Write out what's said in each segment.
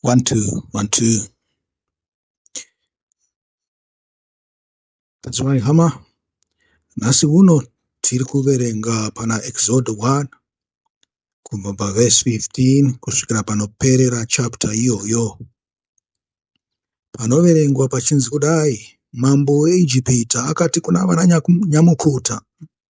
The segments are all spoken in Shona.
one two one two tadzimai hama nhasi uno tiri kuverenga pana exode 1 kubva pavhesi 15 kusvikira panoperera chapter iyoyo panoverengwa pachinzi kudai mambo weijipita akati kuna vananyamukuta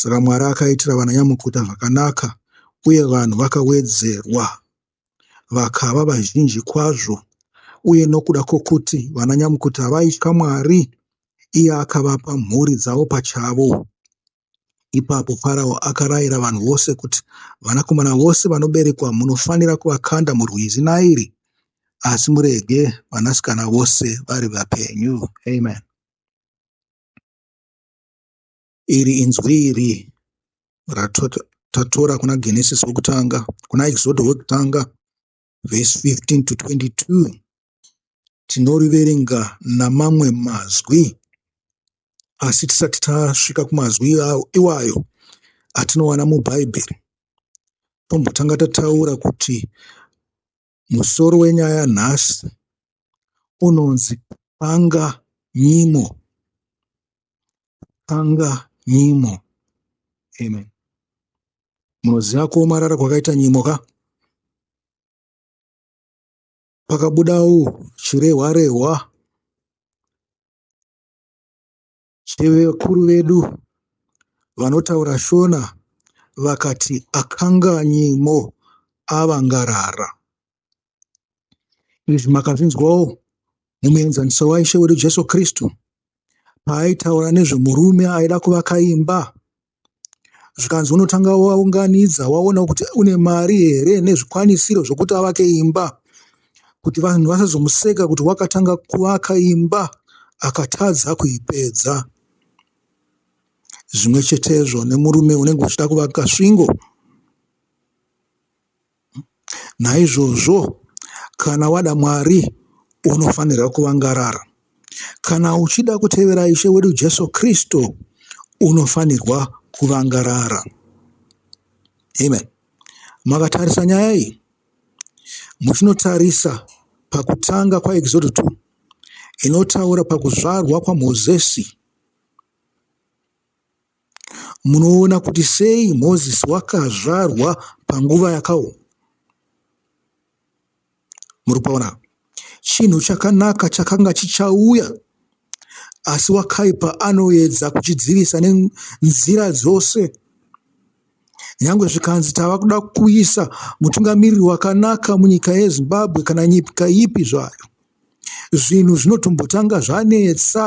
Saka Mwari akaitira vananyamukuta zvakanaka, uye vanhu vakawedzerwa vakava vazhinji kwazvo. Uye nokuda kwokuti vananyamukuta vaitya Mwari, iye akavapa mhuri dzavo pachavo. Ipapo Farao akarayira vanhu vose kuti, Vanakomana vose vanoberekwa munofanira kuvakanda murwizi Nairi, asi murege vanasikana vose vari vapenyu. Amen. Iri inzwi iri ratatora kuna Genesis wokutanga, kuna Exodo wokutanga vhesi 15 to 22 tinoriverenga namamwe mazwi asi tisati tasvika kumazwi iwayo atinowana mubhaibheri tombotanga tataura kuti Musoro wenyaya nhasi unonzi panga nyimo panga nyimo amen munoziva kuomarara kwakaita nyimo ka pakabudawo chirehwa rehwa chevakuru vedu vanotaura Shona vakati akanganyimo avangarara. Izvi makazvinzwawo mumuenzaniso waIshe wedu Jesu Kristu paaitaura nezvemurume aida kuvaka imba zvikanzi unotanga waunganidza waonawo kuti une mari here nezvikwanisiro zvekuti avake imba kuti vanhu vasazomuseka kuti wakatanga kuvaka imba akatadza kuipedza zvimwe chetezvo nemurume unenge uchida kuvaka svingo Naizvozvo kana wada Mwari unofanirwa kuvangarara. Kana uchida kutevera Ishe wedu Jesu Kristu unofanirwa kuvangarara. Amen. Makatarisa nyaya iyi muchinotarisa pakutanga kwaExodo 2 inotaura pakuzvarwa kwaMozisi. Munoona kuti sei Mozisi wakazvarwa panguva yakaoma? Muri kuona? Chinhu chakanaka chakanga chichauya, asi wakaipa anoedza kuchidzivisa nenzira dzose. Nyange zvikanzi tava kuda kuisa mutungamiriri wakanaka munyika yeZimbabwe kana nyika ipi zvayo, zvinhu zvinotombotanga zvanetsa.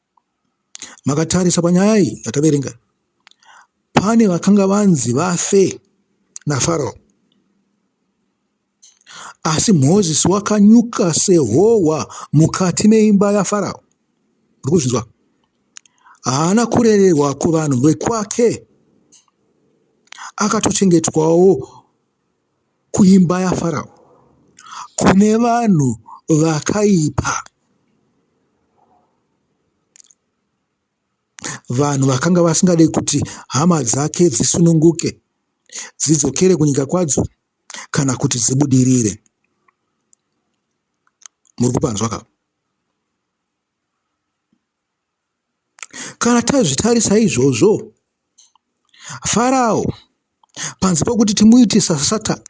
Makatarisa panyaya iyi yataverenga, pane vakanga vanzi vafe naFaro. Asi Mozisi wakanyuka sehohwa mukati meimba yaFaro. Muri kuzvinzwa? Haana kurererwa kuvanhu vekwake, akatochengetwawo Kuimba yaFarao kune vanhu vakaipa, vanhu vakanga vasingade kuti hama dzake dzisununguke, dzidzokere kunyika kwadzo kana kuti dzibudirire. Muri kupanzwa ka? Kana tazvitarisa izvozvo, Farao panze pokuti timuite saSatani,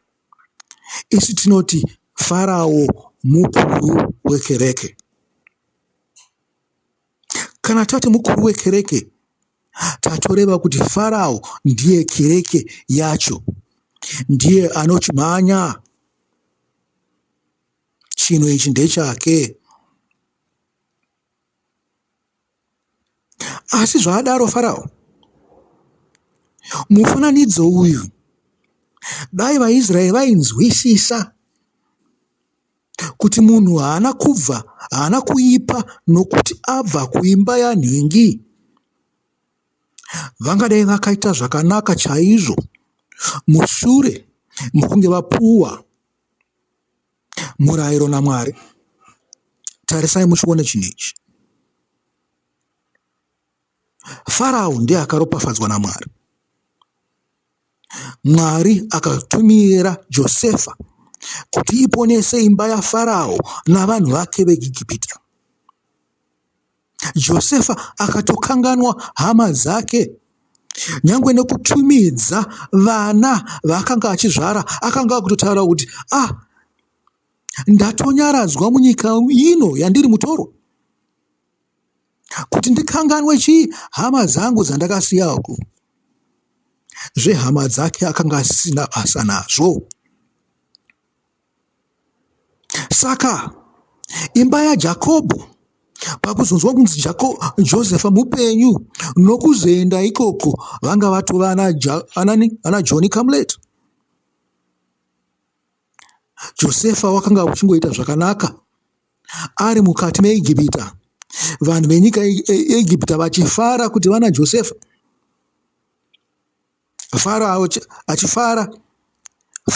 isu tinoti Farao mukuru wekereke. Kana tati mukuru wekereke, tatoreva kuti Farao ndiye kereke yacho, ndiye anochimhanya chinhu ichi ndechake. Asi zvaadaro Farao, mufananidzo uyu dai vaIsraeri vainzwisisa kuti munhu haana kubva haana kuipa nokuti abva kuimba yanhingi, vangadai vakaita zvakanaka chaizvo mushure mokunge vapuwa murairo naMwari. Tarisai muchione chinhu ichi. Farao ndiye akaropafadzwa naMwari. Mwari akatumira Josefa kuti iponese imba yaFarao navanhu vake veIgipita. Josefa akatokanganwa hama dzake. Nyangwe nekutumidza vana vaakanga achizvara akanga akutotaura kuti ah, ndatonyaradzwa munyika ino yandiri mutoro kuti ndikanganwe chii hama dzangu dzandakasiya uku zvehama dzake akanga asisina basa nazvo Saka imba yaJakobho pakuzonzwa kunzi Jako, Josefa mupenyu nokuzoenda ikoko vanga vatova ana, anani, ana John Kamlet. Josefa wakanga uchingoita zvakanaka ari mukati meIgipita, vanhu venyika yeIgipita vachifara kuti vana Josefa Faro achifara,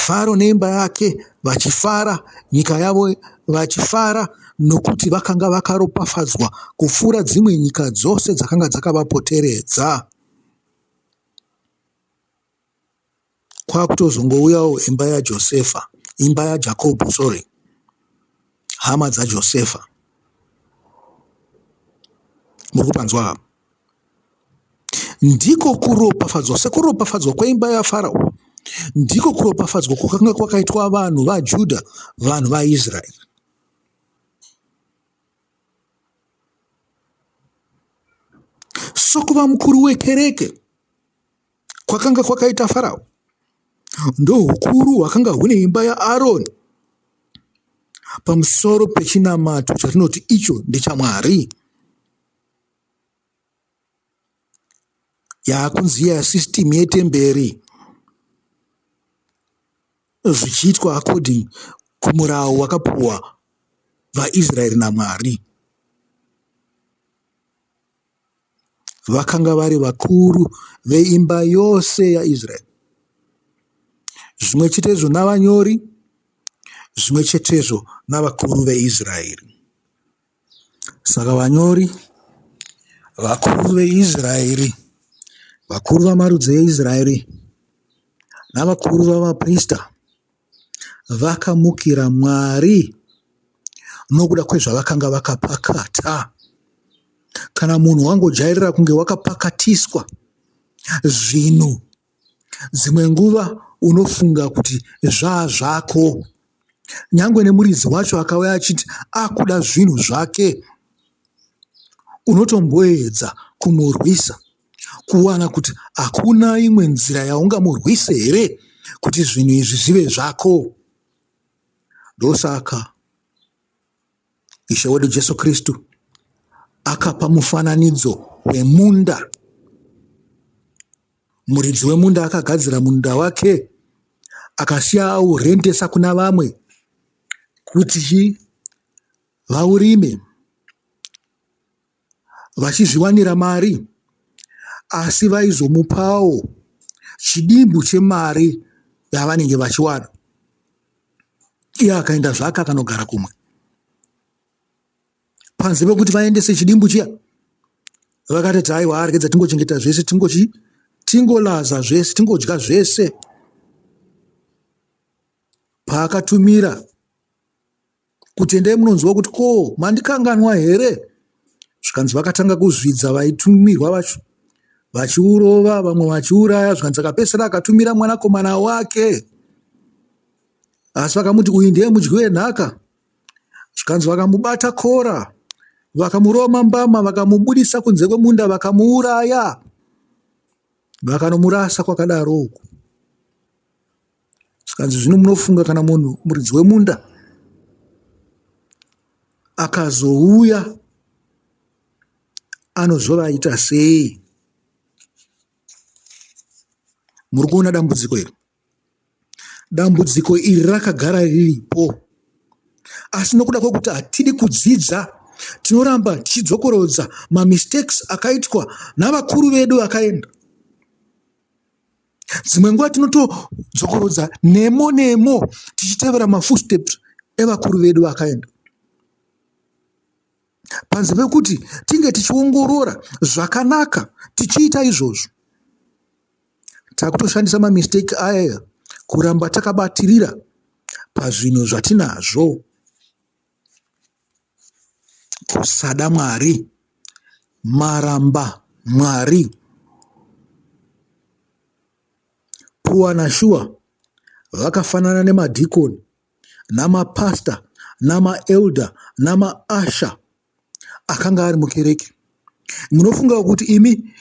Faro neimba yake vachifara, nyika yavo vachifara, nokuti vakanga vakaropafadzwa kupfuura dzimwe nyika dzose dzakanga dzakavapoteredza. Kwakutozongouyawo imba yaJosefa, imba yaJakobo, sorry. Hama dzaJosefa muri kupanzwa apa. Ndiko kuropafadzwa, sekuropafadzwa kweimba yaFarao, ndiko kuropafadzwa kwakanga kwakaitwa vanhu vaJudha, vanhu vaIsraeri. Sokuva mukuru wekereke kwakanga kwakaita Farao ndohukuru hwakanga hune imba yaAroni pamusoro pechinamato chatinoti icho ndechaMwari yaakunzi iya system yetemberi zvichiitwa according kumurawo wakapuwa vaIsraeri naMwari. vakanga vari vakuru veimba yose yaIsraeri, zvimwe chetezvo navanyori, zvimwe chetezvo navakuru veIsraeri. Saka vanyori, vakuru veIsraeri, vakuru vamarudzi eIsraeri navakuru vavaprista Vakamukira Mwari nokuda kwezvavakanga vakapakata. Kana munhu wangojairira kunge wakapakatiswa zvinhu, dzimwe nguva unofunga kuti zvaa zvako. Nyangwe nemuridzi wacho akauya achiti akuda zvinhu zvake, unotomboedza kumurwisa. kuwana kuti hakuna imwe nzira yaungamurwise here kuti zvinhu izvi zvive zvako ndosaka ishe wedu jesu kristu akapa mufananidzo wemunda muridzi wemunda akagadzira munda wake akasiya aurendesa kuna vamwe kuti vaurime vachizviwanira mari asi vaizomupawo chidimbu chemari yavanenge vachiwana iye akaenda zvake akanogara kumwe panze pekuti vaendese chidimbu chiya vakatoti aiwa arikidza tingochengeta zvese tingochi tingolaza zvese tingodya zvese paakatumira kuti endai munonzwa kuti ko mandikanganwa here zvikanzi vakatanga kuzvidza vaitumirwa vacho vachiurova vamwe vachiuraya zvikanzi akapesera akatumira mwanakomana wake asi vakamuti uyu ndiye mudyi wenhaka zvikanzi vakamubata kora vakamuroma mbama vakamubudisa kunze kwemunda vakamuuraya vakanomurasa kwakadaro uku Zvikanzi zvino munofunga kana munhu muridzi wemunda akazouya anozovaita sei? Muri kuona dambudziko iri? Dambudziko iri rakagara riripo, asi nokuda kwekuti hatidi kudzidza tinoramba tichidzokorodza mamistakes akaitwa navakuru vedu vakaenda. dzimwe nguva tinotodzokorodza nemo nemo tichitevera mafootsteps evakuru vedu vakaenda panze pekuti tinge tichiongorora zvakanaka tichiita izvozvo takutoshandisa mamistake aya kuramba takabatirira pazvinhu zvatinazvo kusada Mwari, maramba Mwari. Pua na Shuwa vakafanana nemadhikoni namapastor namaelder namaasha akanga ari mukereke. Munofunga kuti imi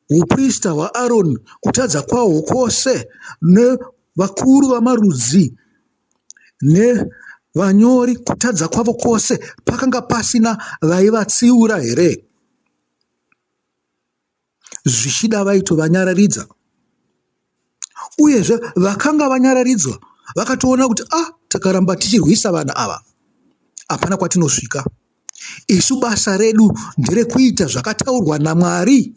uprista hwaAroni kutadza kwahwo kwose nevakuru vamarudzi nevanyori kutadza kwavo kwose pakanga pasina vaivatsiura here? Zvichida vaitovanyararidza. Uyezve vakanga vanyararidzwa vakatoona kuti ah, takaramba tichirwisa vanhu ava hapana kwatinosvika isu basa redu nderekuita zvakataurwa namwari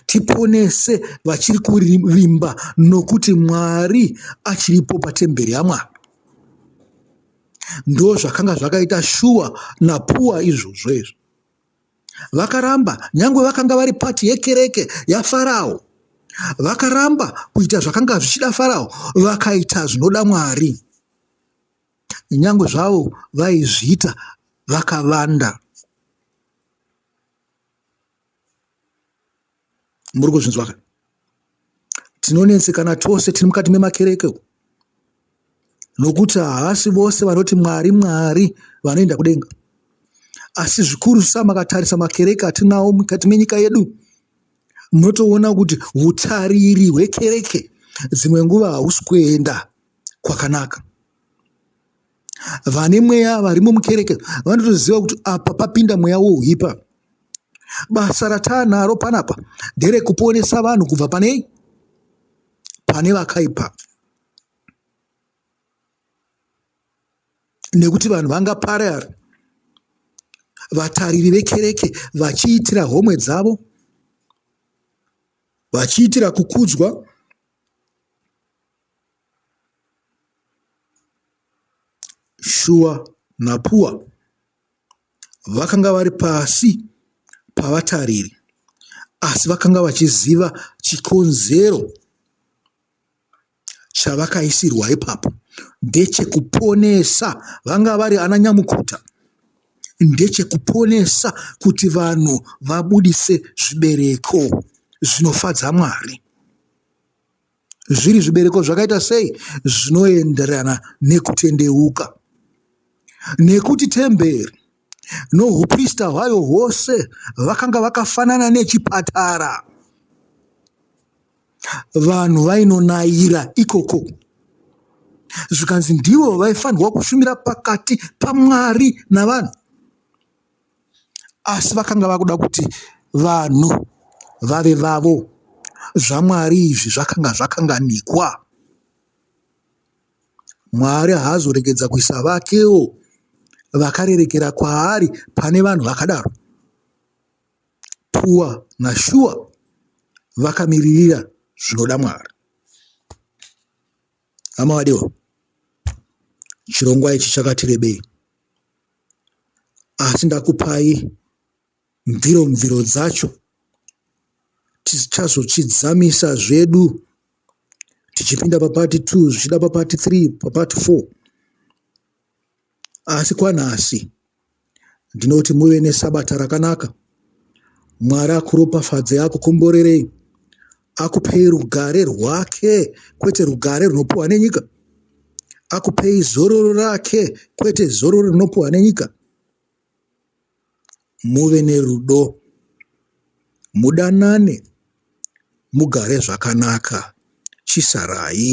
Tiponese vachiri kuvimba nokuti Mwari achiripo patemberi yaMwari. Ndozvakanga zvakaita Shuwa naPuwa izvozvo izvo. Vakaramba, nyangwe vakanga vari pati yekereke yaFarao. Vakaramba kuita zvakanga zvichida Farao, vakaita zvinoda Mwari. Nyangwe zvavo vaizviita vakavanda. Muri kuzvinzwa ka? Tinonetsekana tose tiri mukati memakereke umu nokuti haasi vose vanoti Mwari, Mwari vanoenda kudenga. Asi zvikurusa makatarisa makereke atinawo mukati menyika yedu, munotoona kuti utariri hwekereke dzimwe nguva hausi kuenda kwakanaka. Vane mweya varimo mukereke vanotoziva kuti apa papinda mweya wouhipa. Basa rataanaro panapa nderekuponesa vanhu kubva panei? Pane vakaipa. Nekuti vanhu vangaparare vatariri vekereke vachiitira homwe dzavo vachiitira kukudzwa Shuwa naPuwa vakanga vari pasi pavatariri asi vakanga vachiziva chikonzero chavakaisirwa ipapo ndechekuponesa vanga vari ana nyamukuta ndechekuponesa kuti vanhu vabudise zvibereko zvinofadza Mwari. zviri zvibereko zvakaita sei zvinoenderana nekutendeuka. Nekuti temberi nouprista hwayo hwose vakanga vakafanana nechipatara, vanhu vainonayira ikoko zvikanzi ndivo vaifanirwa kushumira pakati paMwari navanhu. asi vakanga vakuda kuti vanhu vave vavo. ZvaMwari izvi zvakanga zvakanganikwa. Mwari haazoregedza kuisa vakewo vakarerekera kwaari pane vanhu vakadaro. Pua naShua vakamiririra zvinoda Mwari. Hama vadiwa, chirongwa ichi chakati rebei asi ndakupai mviro mviro dzacho tichazochidzamisa zvedu tichipinda papati 2 zvichida papati 3 papati 4 Asi kwanhasi ndinoti muve nesabata rakanaka. Mwari akuropafadzei akukomborerei akupei rugare rwake kwete rugare runopiwa nenyika akupei zororo rake kwete zororo rinopiwa nenyika muve nerudo mudanane mugare zvakanaka chisarai